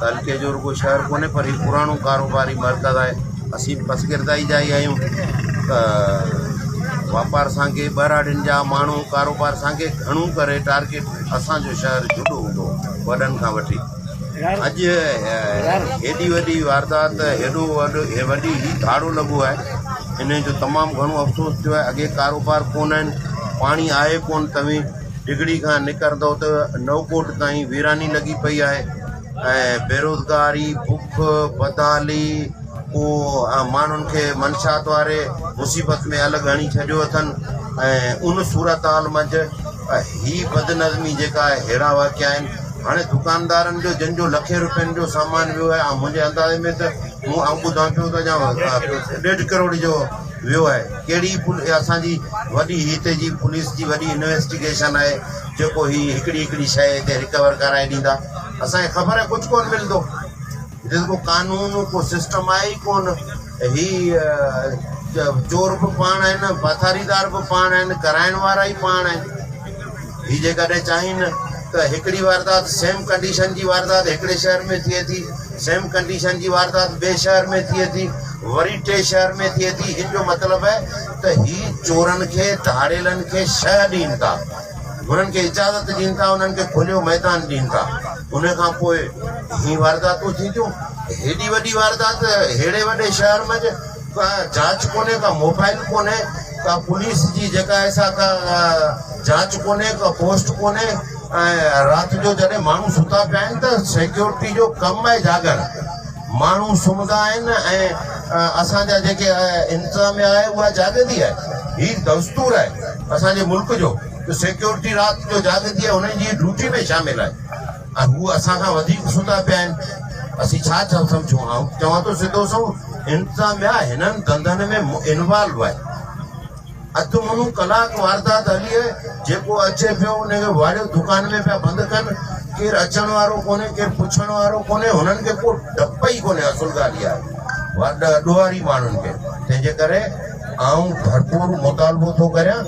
تعلقي جو رڳو شهر ڪونهي پر هي پراڻو ڪاروباري مرڪز آهي اسين به پسگردائي جا ئي آهيون ته واپار سانگي ٻهراڙين جا ماڻهو ڪاروبار سانگي گهڻو ڪري ٽارگيٽ اسانجو شهر جهڏو هوندو وڏن کان وٺي اڄ هيڏي وڏي واردات هيڏو وڏو هي وڏي هي ڌاڙو لڳو آهي ان جو تمام گهڻو افسوس ٿيو آهي اڳي ڪاروبار ڪونهن پاڻي آهي ڪونهن تمي ڊگهڙي کان نڪرندو ته نئوڪوٽ تائين ويراني لڳي پئي آهي ۽ بيروزگاري بک بدحالي ڪو ماڻهن کي منشات واري مصيبت ۾ الڳ هڻي ڇڏيو اٿن ۽ ان صورت حال منجهه هي بدنظمي جيڪا آهي ههڙا واقعا آهن هاڻي دڪاندارن جو جن جو لکين روپين جو سامان ويو آهي منهنجي اندازي ۾ ته مون آئون ٻڌان پيو ته اڃا ڏيڍ ڪروڙ جو ويو آهي ڪهڙي پولي اسان جي وڏي هتي جي پوليس جي وڏي انويسٽيگيشن آهي جيڪو هي هڪڙي هڪڙي شئي هتي رڪور ڪرائي ڏيندا اسان کي خبر آهي ڪجهه ڪون ملندو هتي ته ڪو قانون ڪو سسٽم آهي ئي ڪون هي چور به پاڻ آهن پاٿاريدار به پاڻ آهن ڪرائڻ وارا ئي پاڻ آهن هي جيڪڏهن چاهين ته هڪڙي واردات سيم ڪنڊيشن جي واردات هڪڙي شهر ۾ ٿئي ٿي سيم ڪنڊيشن جي واردات ٻئي شهر ۾ ٿئي ٿي وري ٽئين شهر ۾ ٿئي ٿي ان جو مطلب آهي ته هي چورن کي ڌاڙيلن کي شهه ڏين ٿا انهن کي اجازت ڏين ٿا انهن کي کليو ميدان ڏين ٿا ان کان پوء هي وارداتون ٿينديون هيڏي وڏي واردات ههڙي وڏي شهر منجھ ڪا جاچ ڪونهي ڪا موبائل ڪونهي ڪا پوليس جي جيڪا ايسا ڪا جاچ ڪونهي ڪا پوسٽ ڪونهي ۽ رات جو جڏهن ماڻهو ستا پيا آهن ته سيڪيورٽي جو ڪم آهي جاڳڻ. ماڻهو سمهندا آهن ۽ اسان جا جيڪي انتظاميا آهي اها جاڳندي آهي. هي دستور آهي اسان جي ملڪ جو ته سيڪيورٽي رات جو جاڳندي آهي انهن جي ڊيوٽي ۾ شامل آهي ۽ هو اسان کان وڌيڪ ستا پيا آهن اسين ڇا ٿا سمجهون آئون چوان ٿو سڌو سنئون انتظاميا هنن ڌنڌن ۾ انوالو آهي. اڌ منو ڪلاڪ واردات هلي جيڪو اچي پيو ان کي واڙيو دڪان ۾ پيا بند ڪن ڪير اچڻ وارو ڪونهي ڪير پڇڻ وارو ڪونهي هنن کي ڪو ڊپ ئي ڪونهي اصل ڳالهه اها آهي ڏوهاري ماڻهن کي تنهنجي ڪري آئون ڀرپور مطالبو ٿو ڪريان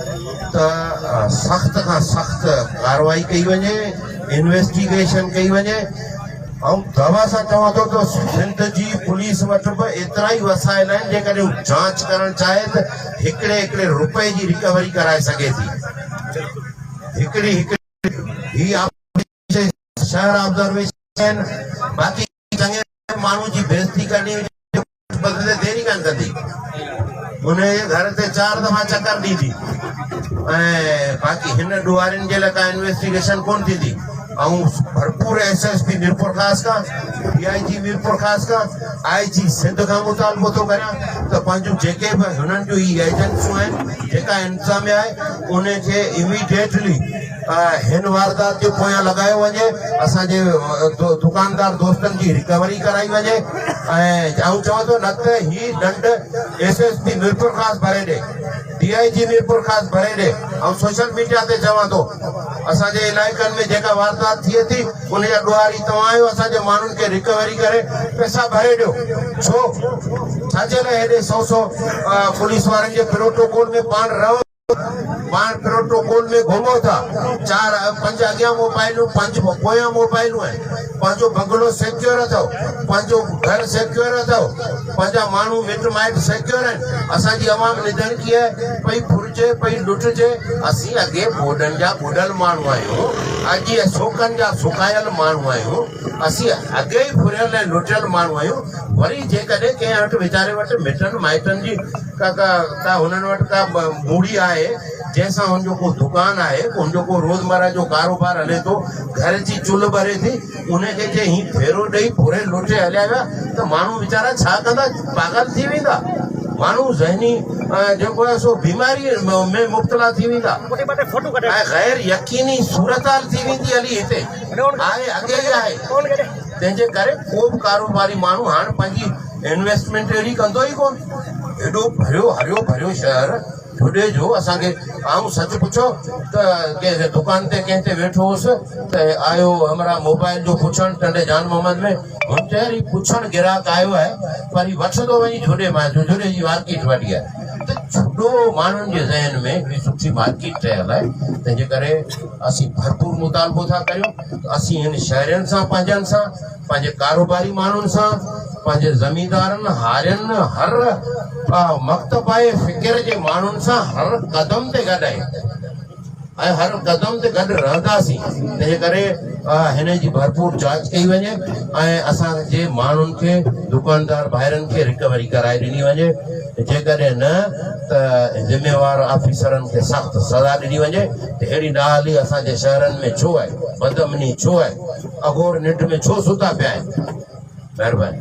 ته سخت کان سخت ڪارروائي ڪئي وڃي انويسٽيگيشن ڪئي وڃي آئون دوا سان چوان ٿو ته سنڌ جي پوليس وٽ به ايترا ئي وسائل آهن جيڪڏهن جانچ ڪرڻ چاهي ته هڪڙي هڪڙي روپئي جي رڪوري ڪرائي سگهي ٿي هڪڙي هڪڙي هي آپريشن شهر آبزرويشن آهن باقي چڱي ماڻهو جي بيزتي ڪرڻي هجي بدلي ديري ڪان ڪندي ان جي گهر تي چار دفعا چڪر ڏيندي ۽ باقي هن ڏوهارين جي لاء ڪا انويسٽيگيشن ڪون ٿيندي آئون ڀرپور ايس ايس پي ميرپورخاص کان، ڊي آء جي ميرپورخاص کان، آء جي سنڌ کان مطالبو ٿو ڪريان ته پنهنجون جيڪي به هنن جون هي ايجنسيون آهن، جيڪا انتظاميه آهي ان کي اميڊيٽلي هن واردات جي پويان لڳايو وڃي، اسان جي دڪاندار دوستن جي رڪوري ڪرائي وڃي ۽ آئون چوان ٿو نه ته هي ڏنڊ ايس ايس پي ميرپورخاص ڀري ڏي. ڊي آء جي ميرپورخاص ڀرينڊي آئون سوشل ميڊيا تي چوان ٿو اسان جي علائقن ۾ جيڪا واردات ٿئي ٿي ان جا ڏوهاري توهان آهيو اسان جي ماڻهن کي رڪوري ڪري پئسا ڀري ڏيو ڇو ڇا جي لاء هيڏي سو سو پوليس وارن جي پروٽوڪول ۾ پاڻ رهو پاڻ پروٽوڪول ۾ گهمو ٿا چار پنج اڳيان موبائلون پنج پويان موبائلون آهن پنهنجو بنگلو سيڪيور اٿو پنهنجو گهر سيڪيور اٿو پنهنجا ماڻهو مٽ مائٽ سيڪيور آهن اسان جي عوام نڌڻ ڪيئي پئي ڦرجي پئي لٽجي اسين اڳي ٻوڏن جا ٻڏل ماڻهو آهيون اڳي سوڪن جا سڪايل ماڻهو آهيون اسين اڳي ئي ڦريل ۽ لٽيل ماڻهو آهيون وري جيڪڏهن ڪنهن وٽ ويچاري وٽ مٽن مائٽن جي ڪا ڪا ڪا هنن وٽ ڪا موڙي آهي جنهن سان هن جو ڪو دڪان آهي هن جو ڪو روزمره جو ڪاروبار هلي ٿو گهر جي چلهه ٻري ٿي انهن کي جي هي ڦيرو ڏئي ڦري لوٽي هليا ويا ته ماڻهو ويچارا ڇا ڪندا؟ پاڳل ٿي ويندا. ماڻهو ذهني جيڪو آهي سو بيماري ۾ مبتلا ٿي ويندا ۽ غير يقيني صورتحال ٿي ويندي هلي هتي آهي اڳي ئي آهي تنهن جي ڪري ڪو به ڪاروباري ماڻهو هاڻ پنهنجي انويسٽمينٽ اهڙي ڪندو ئي ڪونه ايڏو ڀريو هريو ڀريو شهر هوڏي جو اسان کي آئون سچ پڇو ته ڪنهن دڪان تي ڪنهن تي ويٺو هوس ته آيو همراهه موبائل جو پڇڻ ٽنڊي جان محمد ۾ هن چيو هي پڇڻ گراهڪ آيو آهي پر هي وٺندو وڃي جهوڏي مان جو جهوڏي جي مارڪيٽ وڏي آهي ته جهوڏو ماڻهن جي ذهن ۾ هڪڙي سٺي مارڪيٽ ٺهيل آهي تنهنجي ڪري اسين ڀرپور مطالبو ٿا ڪريون ته اسين هن شهرين سان پنهنجن سان پنهنجي ڪاروباري ماڻهن سان، پنهنجي زميندارن، هارين، هر مڪتب ۽ فڪر جي ماڻهن سان هر قدم تي گڏ آهيون ۽ هر قدم تي گڏ رهنداسين. تنهنجي ڪري هن جي ڀرپور جاچ ڪئي وڃي ۽ اسان جي ماڻهن کي دڪاندار ڀائرن کي رڪوري ڪرائي ڏني وڃي جيڪڏهن نه ته ذميوار آفيسرن کي سخت سزا ڏني وڃي ته اهڙي نااهلي اسان جي شهرن ۾ ڇو آهي؟ بدامني ڇو آهي؟ اگهور ننڊ ۾ ڇو ستا پيا آهن مهرباني.